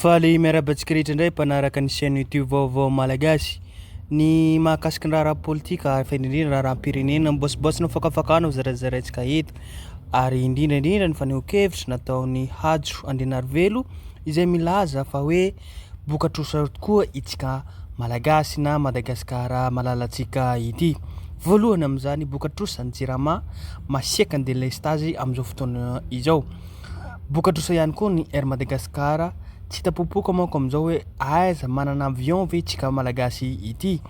Faly miarahaba antsika rehetra indray mpanaraka ny chaîne YouTube Vaovao Malagasy. Ny mahakasika ny raharaha politika ary fa indrindra raharaham-pirenena mibaosibaosy ny fakafakana ho zarazaraintsika eto ary indrindra indrindra ny fanehoan-kevitra nataon'i Hajo Andrianarivelo izay milaza fa hoe bokatr'osa tokoa itsika Malagasy na Madagasikara malalantsika ity. Voalohany amin'izany bokatr'osa ny Jirama masiaka ny delestazy amin'izao fotoana izao. Boka trosa ihany koa ny Air Madagascar, tsy hita popoka manko amin'izao hoe aiza, manana avion ve itsika malagasy ity?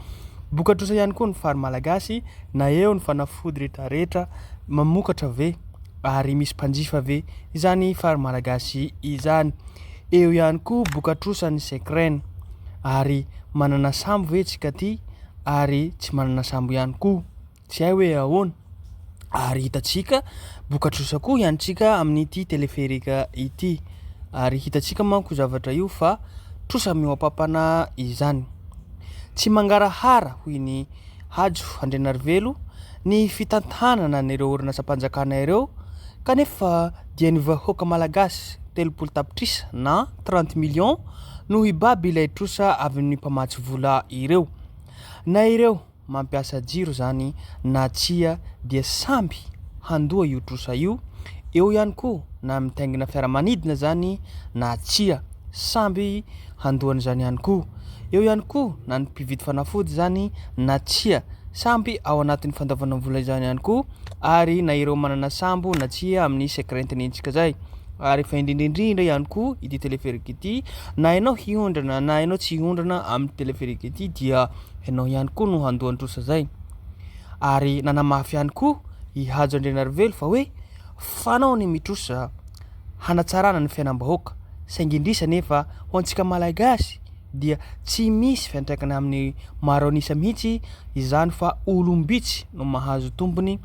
Boka trosa ihany koa ny fary malagasy, na eo ny fanafody rehetra rehetra, mamokatra ve ary misy mpanjifa ve izany fary malagasy izany? Eo ihany koa boka trosa ny Secren, ary manana sambo ve itsika ity ary tsy manana sambo ihany koa? Tsy hay hoe ahoana? Ary hitantsika bokatrosa koa hiantsika amin'ity teleferika ity. Ary hitantsika manko zavatra io fa trosa mihoapampana izany. Tsy mangarahara, hoy ny Hajo Andrianarivelo, ny fitantanana an'ireo orinasam-panjakana ireo kanefa dia ny vahoaka malagasy telopolo tapitrisa na trente millions no hibaby ilay trosa avy amin'ny mpamatsy vola ireo. Na ireo. mampiasa jiro izany na tsia dia samby handoa io trosa io, eo ihany koa na mitaingina fiaramanidina izany na tsia samby handoa an'izany ihany koa, eo ihany koa na ny mpividy fanafody izany na tsia samby ao anatin'ny fandoavana vola izany ihany koa ary na ireo manana sambo na tsia amin'ny secret nentsika izay. Ary fa indrindra indrindra ihany koa ity téléphérique ity na ianao hiondrana na ianao tsy hiondrana amin'ny téléphérique ity dia Ianao ihany koa no handoa ny trosa izay. Ary nanamafy ihany koa i Hajo Andrianarivelo fa hoe fanao ny mitrosa hanatsarana ny fiainam-bahoaka, saingy indrisy anefa ho antsika Malagasy dia tsy misy fiantraikany amin'ny maro an'isa mihitsy izany fa olom-bitsy no mahazo tombony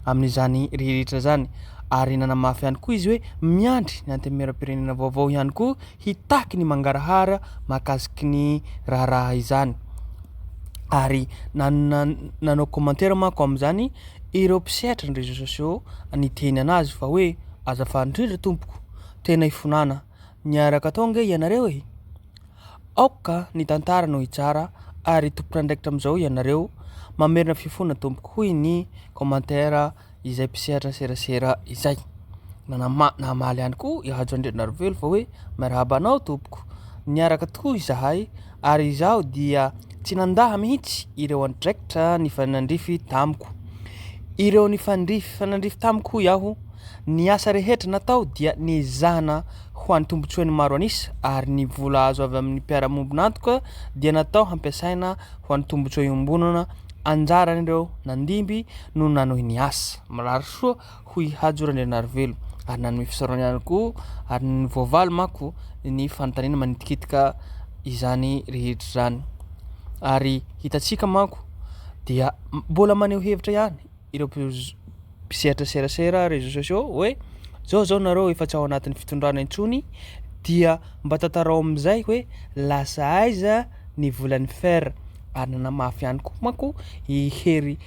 amin'izany rehetra izany. Ary nanamafy ihany koa izy hoe miandry ny Antenimierampirenena vaovao ihany koa hitaky ny mangarahara mahakasiky ny raharaha izany ary nanao commentaire manko amin'izany ireo mpisehatra ny réseaux sociaux niteny an'azy fa hoe azafady indrindra tompoko tena ifonana niaraka tao ange ianareo e! aoka ny tantara no hitsara ary tompon'andraikitra amin'izao ianareo mamerina fifona tompoko hoy ny commentaire izay mpisehatra serasera izay. Nanama- Namaly ihany koa i Hajo Andrianarivelo fa hoe miarahaba anao tompoko, niaraka tokoa izahay ary izaho dia tsy nandaha mihitsy ireo andraikitra nifanandrify tamiko. Ireo nifandrify fanandrify tamiko hoy aho, ny asa rehetra natao dia niezahana ho an'ny tombontsoan'ny maro an'isa ary ny vola azo avy amin'ny mpiara-miombon'antoka dia natao hampiasaina ho an'ny tombontsoa iombonana anjaran'ireo nandimby no nanohy ny asa. Mirary soa ho i Hajo Randrianarivelo ary nanome fisaorana ihany koa ary ny voavaly manko ny fanontaniana manitikitika izany rehetra izany ary hitantsika manko dia mbola maneho hevitra ihany ireo mpisehatra serasera réseaux sociaux hoe zao zao nareo efa tsy ao anatin'ny fitondrana intsony dia mba tantarao amin'izay hoe lasa aiza ny volan'ny fer ary nanamafy ihany koa manko i Hery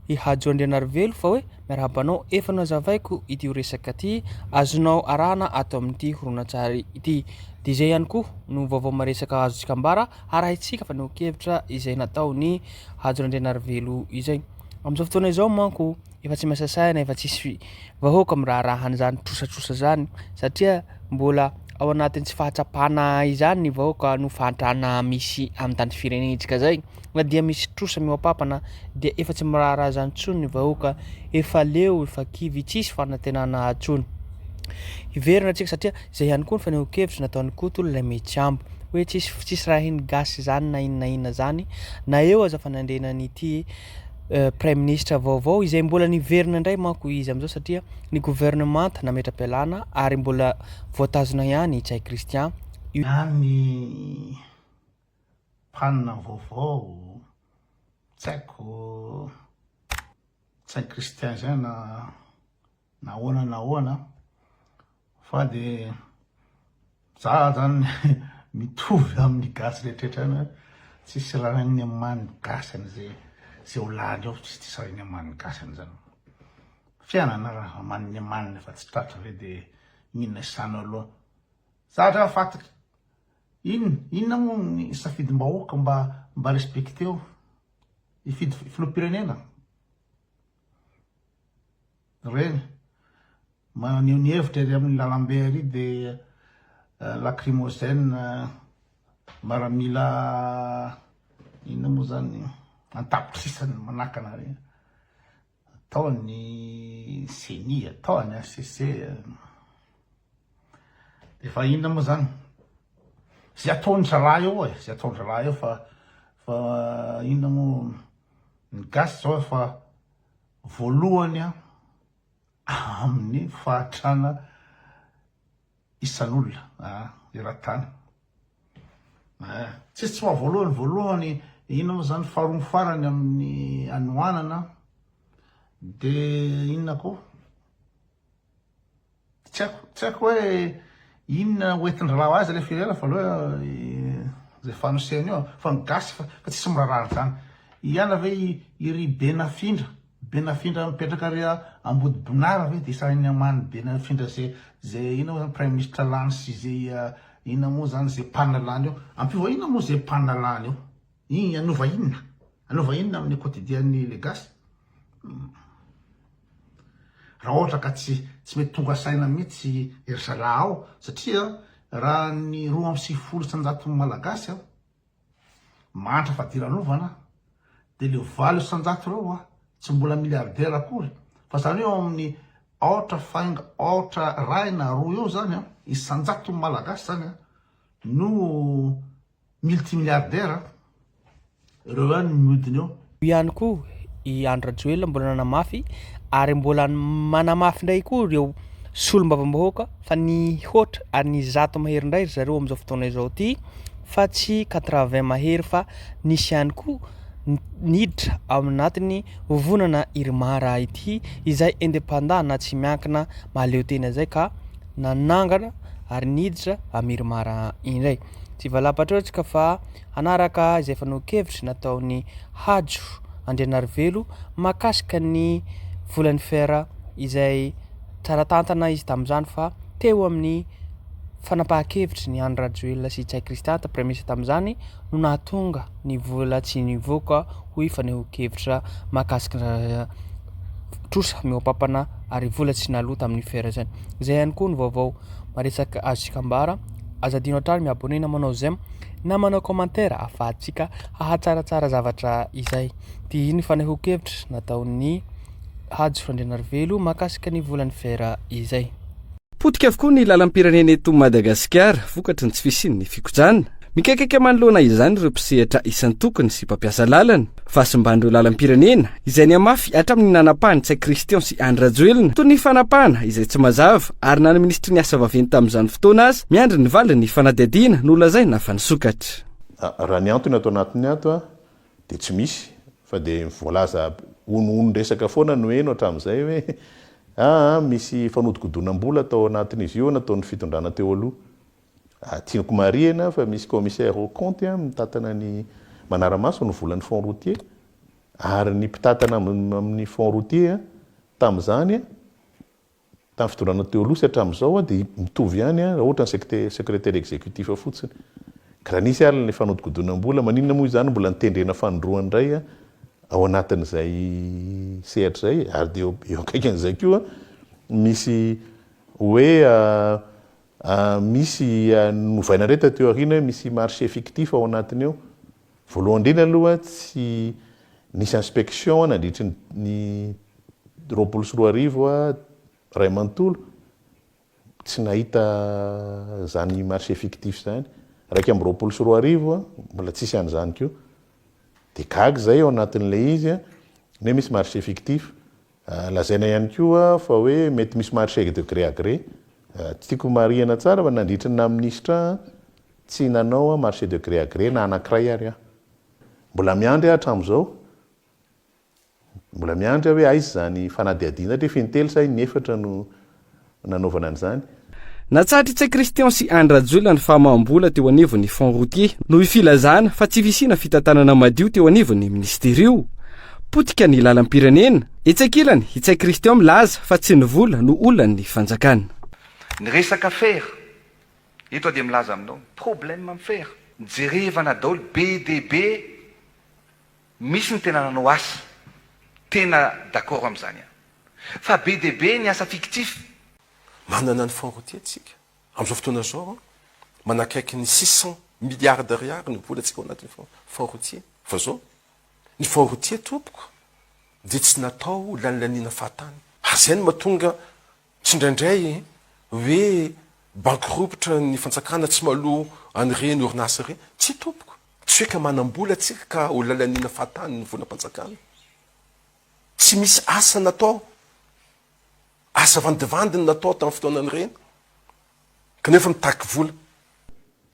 i Hajo Andrianarivelo fa hoe miarahaba anao efa nazavaiko ity resaka ity azonao arahana ato amin'ity horonantsary ity dia izay ihany koa no vaovao maresaka azontsika ambara harahintsika fa neo kevitra izay nataony Hajo Andrianarivelo izay Amin'izao fotoana izao manko efa tsy masasahina, efa tsisy vahoaka miraharaha an'izany trosatrosa izany satria mbola ao anatin'ny tsy fahatsapana izany ny vahoaka noho fahantrana misy amin'ny tany firenentsika izay na dia misy trosa mihoa-pampana dia efa tsy miraharaha izany intsony ny vahoaka, efa leo, efa kivy, tsisy fanantenana intsony. Hiverina isika satria Izay ihany koa ny fanehoan-kevitra nataon'i Koto ilay Mihitsabo, hoe tsisy tsisy rahin'ny gasy izany na inona na inona izany, na eo aza fanandriana an'ity Praiminisitra vaovao, izay mbola niverina indray manko izy amin'izao satria ny governemanta nametra-pialana ary mbola voatazona ihany i Ntsay Christian, io. Na ny mpanina vaovao, tsy haiko, Ntsay Christian izay na Nahoana nahoana fa de za zany mitovy amin'ny gasy rehetraretra any hoe tsisy rariny aman'ny gasy an'izay zay ho lany ao tsisy tsisy rariny aman'ny gasy an'izany fianana raha aman'ny amaniny fa tsy tratra ve de inona isano aloha za dra fatiko inona inona moa ny safidim-bahoaka mba mba respecteo hifidy filoham-pirenena Reny, maneho ny hevitra ery amin'ny lalambe ery dia lacrymogène maramila inona moa zany an-tapitrisany manakana ary tao ny ceni, tao ny HCC, Efa inona moa zany? Zay ataon'ny zalahy eo e, zay ataon'ny zalahy eo fa fa inona moa ny gasy zao fa voalohany a amin'ny fahatrana isan'olona eran-tany. Eh, tsisy tsy maha voalohany voalohany inona moa zany faharoa farany amin'ny anohanana dia inona koa Tsy haiko, tsy haiko hoe inona ho entin-drahalahy azy ilay filiale voaloha izay fanosehana io fa ny gasy fa tsisy miraharaha an'izany. Hiana ve i ry Benafindra, Benafindra mipetraka ary Ambodibonara ve dia sahin'ny haman'i Benafindra izay izay inona moa izany praiminisitra lany sy izay inona moa izany izay mpanalany eo. Ampiova inona moa izay mpanalany eo. I hanova inona? Hanova inona amin'ny quotidien'ny le gasy? Raha ohatra ka tsy tsy mety tonga saina mihitsy i ry zalahy ao satria raha ny roa amby sivifolo isan-jaton'ny malagasy mahantra fadiranovana dia le valo isan-jato ireo tsy mbola milliardaire akory fa zany eo amin'ny aotra fainga aotra ray na roa eo zany isan-jaton'ny malagasy zany no Multimilliardaire ireo ihany no miodina eo. Eo ihany koa i Andry Rajoelina mbola nanamafy ary mbola manamafy indray koa ireo solombavambahoaka fa nihoatra ary nisy zato mahery indray ry zareo amin'izao fotoana izao ity fa tsy quatre vingt mahery fa nisy ihany koa niditra ao anatin'ny vovonana Irmara ity izay indépendant na tsy miankina mahaleo tena izay ka nanangana ary niditra amin'ny Irmara indray. Tsy valam-patrehitra ka fa hanaraka izay fanehoan-kevitra nataon'i Hajo Andrianarivelo mahakasika ny volan'ny fer izay tsara tantana izy tamin'izany fa teo amin'ny fanapahan-kevitry ny Andry Rajoelina sy Ntsay Christian, praiminisitra tamin'izany, no nahatonga ny vola tsy nivoaka hoy fanehoan-kevitra mahakasika trosa mihoa-pampana ary vola tsy naloa tamin'ny fer izany. Izay ihany koa ny vaovao maresaka azontsika ambara. Aza adino hatrany mi-abonner na manao j'aime na manao commentaire ahafahantsika hahatsaratsara zavatra izay. Dia iny ny fanehoan-kevitra nataon'i Hajo Randrianarivelo mahakasika ny volan'ny fer izay. Potika avokoa ny lalam-pirenena eto Madagasikara vokatry ny tsy fisian'ny fikojanina. Mikaikaika manoloana izany ireo mpisehatra isan-tokony sy mpampiasa lalana. Fahasimban'ireo lalam-pirenena izay nihamafy hatramin'ny nanapahany tsy Christian sy Andry Rajoelina toy ny fanapahana izay tsy mazava ary na ny minisitry ny asa vaventy tamin'izany fotoana aza miandry ny valin'ny fanadihadiana nolazaina fa nisokatra. Raha ny antony ato anatiny ato dia tsy misy fa dia voalaza honohonon-dresaka foana no heno hatramin'izay hoe aa misy fanodikodonam-bola tao anatin'izy io nataon'ny fitondrana teo aloha Tiako marihina fa misy commissaire aux comptes mitantana ny manara-maso ny volan'ny fonds routier ary ny mpitantana amin'ny fonds routier tamin'izany, tamin'ny fitondràna teo aloha sy hatramin'izao dia mitovy ihany raha ohatra ny secretaire executif fotsiny. Ka raha nisy ary ilay fanodikodinam-bola, maninona moa izany mbola nitendrena fanindroany indray ao anatin'izay sehatra izay e? Ary dia eo akaikin'izay koa misy hoe. Misy novaina indray taty aoriana hoe misy marché fictif ao anatiny ao. Voalohany indrindra aloha tsy nisy inspection nandritry ny roapolo sy roa arivo iray manontolo, tsy nahita izany marché fictif izany. Iraika amby roapolo sy roa arivo mbola tsisy an'izany koa. Dia gaga izahay ao anatin'ilay izy ny hoe misy marché fictif. Lazaina ihany koa fa hoe mety misy marché de gré à gré. Tsy tiako homarihana tsara fa nandritry ny naha-minisitra aho, tsy nanao marché de gré à gré na anankiray ary aho. Mbola miandry aho hatramin'izao, mbola miandry aho hoe aiza izany fanadihadiana, hatreto fa intelo sa inefatra no nanaovana an'izany. Natsahatra i Tsay Christian sy Anny Rajoelina ny famaham-bola teo anivon'ny Fonds Routier noho ny filazana fa tsy fisiana fitantanana madio teo anivon'ny minisitera io. Potika ny lalam-pirenena. Etsy ankilany, i Tsay Christian milaza fa tsy ny vola no olan'ny fanjakana. Ny resaka fer, eto aho dia milaza aminao ny problème amin'ny fer. Jerevana daholo be dia be Misy ny tena nanao asa, tena d'accord amin'izany aho. Fa be dia be ny asa fictif. Manana ny fonds routier tsika. Amin'izao fotoana izao, manakaiky ny six cent milliards d'ariary ny vola tsika ao anatin'ny fonds routier. Fa zao, ny fonds routier tompoko dia tsy natao ho lanilaniana fahatany. Ary izay no mahatonga Tsindraindray hoe bankiropitra ny fantsakana tsy maloa an'ireny orinasa ireny. Tsia tompoko, tsy hoe ka manam-bola tsika ka ho lalaniana fahatany ny volam-panjakana. Tsy misy asa natao, asa vandivandiny natao tamin'ny fotoanan'ireny. kanefa mitaky vola.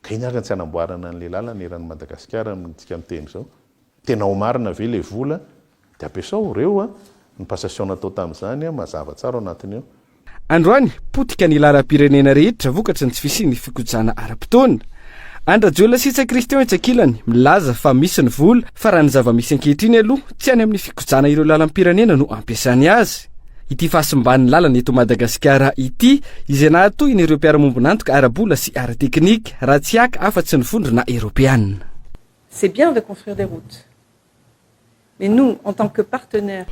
Ka iny ary no tsy hanamboarana an'ilay lalana eran'i Madagasikara amintsika miteny izao. Tena ao marina ve ilay vola dia ampiasao ireo a, ny passation natao tamin'izany a, mazava tsara ao anatiny ao. Androany, potika ny lalam-pirenena rehetra vokatry ny tsy fisian'ny fikojana ara-potoana. An-dRajoelina sy Ntsay Christian etsy ankilany, milaza fa misy ny vola, fa raha ny zava-misy ankehitriny aloha, tsy any amin'ny fikojana ireo lalam-pirenena no ampiasany azy. Ity fahasimban'ny lalana eto Madagasikara ity izay nahatohina ireo mpiara-mombon'antoka ara-bola sy ara-teknika raha tsy haka afa-tsy ny vondrona eropeanina. C'est bien de construire des routes mais nous en tant que partenaires.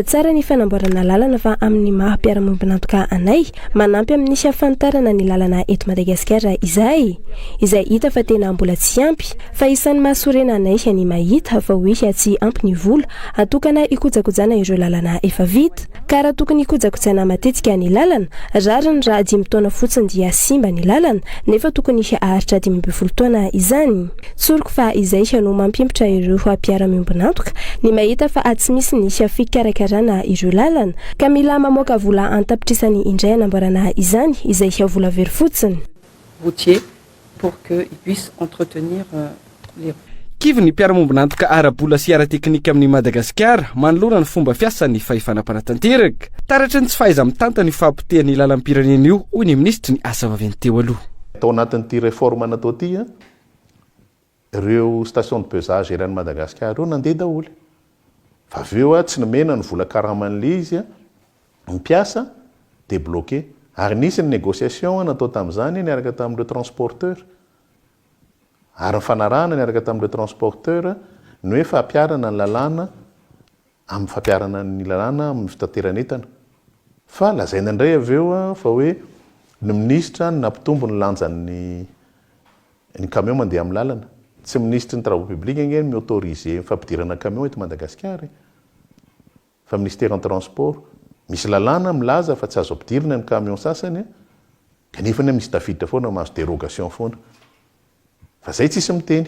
Tsara ny fanamboarana lalana fa amin'ny maha mpiara-mombon'antoka anay, manampy amin'ny hafantarana ny lalana eto Madagasikara izahay, izay hita fa tena mbola tsy ampy, fa isan'ny mahasorena anay ny mahita fa hoe tsy ampy ny vola atokana hikojakojana ireo lalana efa vita. Ka raha tokony hikojakojaina matetika ny lalana, rariny raha dimy taona fotsiny dia simba ny lalana, nefa tokony haharitra dimy ambin'ny folo taona izany. Tsoriko fa izay no mampimpitra ireo mpiara-miombon'antoka ny mahita fa tsy misy ny fikarakarana ireo lalana, ka mila mamoaka vola an-tapitrisany indray hanamboarana izany, izay vola very fotsiny. Routier, pour que ils puissent entretenir les routes. Kivy ny mpiara-mombon'antoka ara-bola sy ara-teknika amin'i Madagasikara manoloana ny fomba fiasan'ny fahefana mpanatanteraka. Taratry ny tsy fahaiza-mitantana io fahapotehan'ny lalam-pirenena io, hoy ny minisitry ny Asa vaventy teo aloha. Tao anatin'ity réforme natao ity, Ireo station de pesage eran'i Madagasikara ireo nandeha daholo. Fa avy eo tsy nomena ny vola karaman'ilay izy ny mpiasa dia bloqué. Ary nisy ny négociation natao tamin'izany niaraka tamin'ireo transporteurs. Ary nifanarahana niaraka tamin'ireo transporteurs ny hoe fampiharana ny lalàna amin'ny fampiharana ny lalàna amin'ny fitateran'entana. Fa lazaina indray avy eo fa hoe ny minisitra no nampitombo ny lanjan'ny ny camion mandeha amin'ny lalana. Tsy minisitry ny travaux publics ange no mi-autoriser ny fampidirana camion eto Madagasikara e! Fa minisiteran'ny transport. Misy lalàna milaza fa tsy azo ampidirina ny camion sasany kanefa anie misy tafiditra foana mahazo dérogation foana. Fa zay tsisy miteny.